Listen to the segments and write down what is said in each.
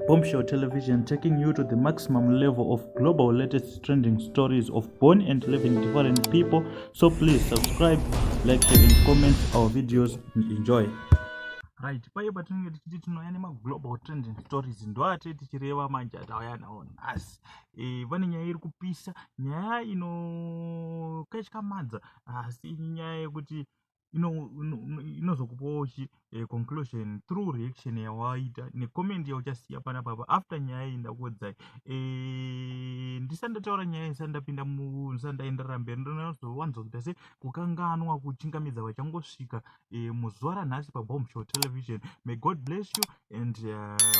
Bombshell Television taking you to the maximum level of global latest trending stories of born and living different people. So please subscribe, like, share, and comment our videos and enjoy. Right, paye patinenge tichiti tinouya nemaglobal trending stories ndoate tichireva manje atauya nawo nhasi e, vane nyaya iri kupisa nyaya inokatyamadza asi nyaya yekuti inozokupawo chi eh, conclusion through reaction yawaita necomment yauchasiya pana papa after nyaya iyi ndakuodzai eh, ndisati ndataura nyaya ndisati ndapinda ndisati ndaenderera mberi ndinozowanza kuita se kukanganwa kuchingamidza vachangosvika eh, muzuva ranhasi pabomb show television may god bless you and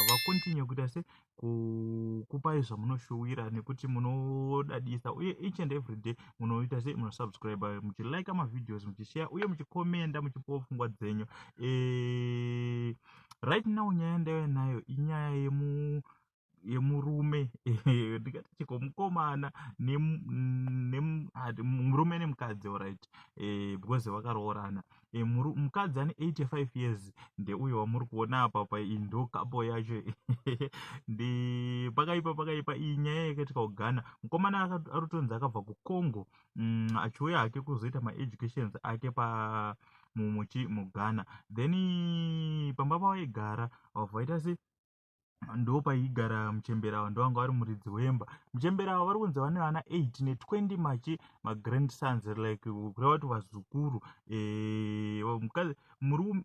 vacontinue kuita se kukupai zvamunoshuwira nekuti munodadisa uye each and every day munoita sei munosubscribe muchilike mavideos muchishare uye muchikomenda muchipowo pfungwa dzenyu e, right now nyaya ndaive nayo inyaya yemu yemurume ndingati chiko mukomana murume nemukadzi orit e, because vakaroorana e, muri, mukadzi ane 85 years ndeuyo wamuri kuona apa pa indo kapo yacho ndi pakaipa pakaipa iyi nyaya yakaitika kugana mukomana arutonzi akabva kucongo mm, achiuya hake kuzoita maeducations ake pa mumuchi mugana then pamba pavaigara vabva vaita se ndo paigara muchembera ava ndovanga vari muridzi wemba muchembera ava vari kunzi vane vana 8 ne20 machi magrandsons like kureva kuti vazukuru eh,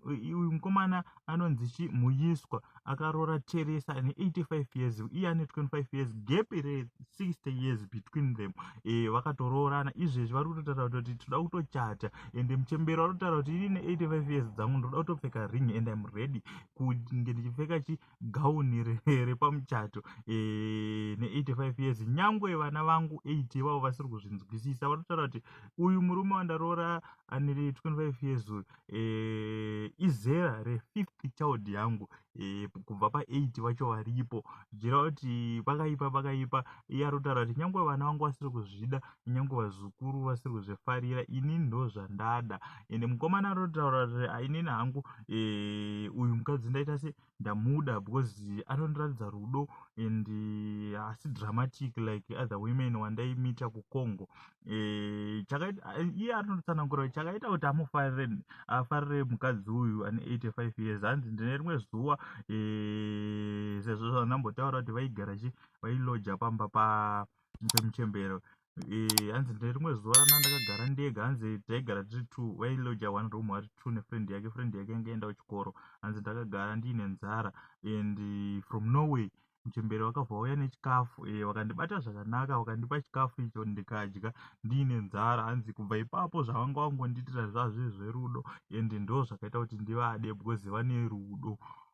uyu mukomana anonzi chi muyiswa akaroora teresa ane 85 years iye ane 25 years gap re 60 years between them eh, vakatoroorana izvezvi vari kutotaura kuti tinoda kutochata ende muchembera vanotaura kuti ini ne 85 years dzangu ndinoda kutopfeka ring and im ready kunge ndichipfeka chi gown repamuchato e, ne 85 years nyangwe vana vangu 8 ivavo vasiri kuzvinzwisisa vanotaura kuti uyu murume wandaroora ane 25 years uyu e, izera refifth child yangu e, kubva pa8 vacho varipo zvichireva kuti pakaipa pakaipa iye anotaura kuti nyangwe vana vangu vasiri kuzvida kunyange vazukuru vasiri kuzvifarira inini ndo zvandada ende mukomana anotaura kuti inini hangu eh, uyu mukadzi ndaita se ndamuda because anondiratidza rudo and eh, asi dramatic like other women wandaimita kucongo eh, iye anotsanangura kuti chakaita kuti amufarire afarire mukadzi uyu ane 85 years hanzi ndine rimwe zuva sezvo zvandambotaura kuti vaigara chi vailoja pamba pa mupe muchembero eh, hanzi ndine rimwe zuva rana ndakagara ndega hanzi taigara tiri two wailoja one room ari two nefriend yake friend yake yange enda kuchikoro hanzi ndakagara ndiine nzara and eh, from norway muchembere wakabva wauya nechikafu e, wakandibata zvakanaka wakandipa chikafu icho ndikadya ndiine nzara hanzi kubva ipapo zvavanga wangondiitira zvazve zverudo and ndo zvakaita kuti ndivade because vane rudo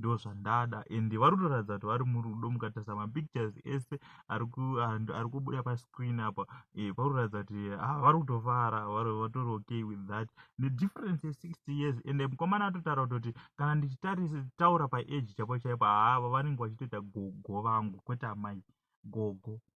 ndozvandada and vari kutoratidza kuti vari murudo mukatarisa mapictures ese ari kubuda pascreen apa eh, vari kuratidza kuti ah, vari kutofara vatori okay with that nedifference ye60 years and mukomana atotaura kutoti kana ndichitaura paage chapo chaipo haava ah, vanenge vachitoita gogo vangu kwete amai gogo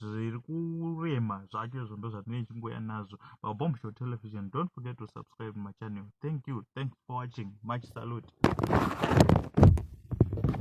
zviri kurema zvacho izvo ndo zvatinenge tichingoya nazvo mabomb show television don't forget to subscribe machannel thank you thanks for watching much salute